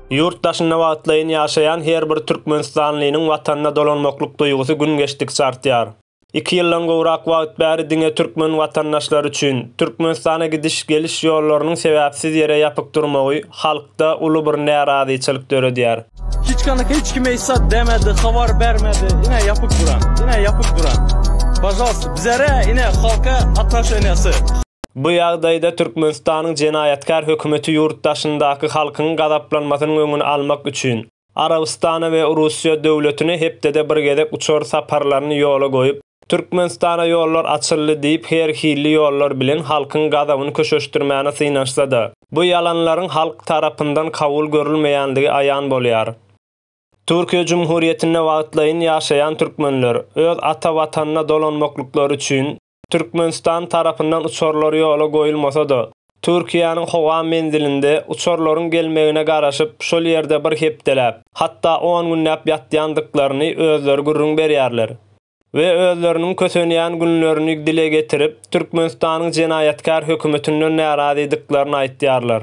Ýurt daşynda wagtlaýyn ýaşaýan her bir türkmenistanlynyň Watanyna dolanmaklyk duýgusy gün geçdikçe artýar. Iki ýyldan gowrak wagt bäri diňe türkmen watandaşlary üçin, Türkmenistana gidiş, geliş ýollarynyň sebäpsiz ýere ýapyk durmagy halkda uly bir närazyçylyk döredýär. Hiç kany hiç kim eýsa demedi, habar bermedi, ine ýapyk duran, ine ýapyk duran. Pažalsta, bizere, ine halka ataşeniasy. Bu ýagdaýda Türkmenistanyň jenaýatkär hökümeti ýurt daşyndaky halkyň gazaplanmasynyň öňüni almak üçin, Arabystana we Russiýa döwletine hepdede bir gezek uçar saparlaryny ýola goýup, Türkmenistana ýollar açyldy diýip her hilli ýollar bilen halkyň gazabyny köşeşdirmäne synanşsa-da, bu ýalanlaryň halk tarapyndan kabul görülmeýändigi aýan bolýar. Türkiýe Jumhuriýetinde wagtlaýyn ýaşaýan türkmenler, öz ata Watanyna dolanmaklyklary üçin, Türkmenistan tarapyndan uçarlar ýola goýulmasa-da, Türkiýäniň howa menzilinde uçarlaryň gelmegine garaşyp, şol ýerde bir hepdeläp, hatda on günläp ýatýandyklaryny özleri gürrüň berýärler we özleriniň kösenýän günlerini dile getirip, Türkmenistanyň jenaýatkär hökümetinden närazydyklaryny aýtýarlar.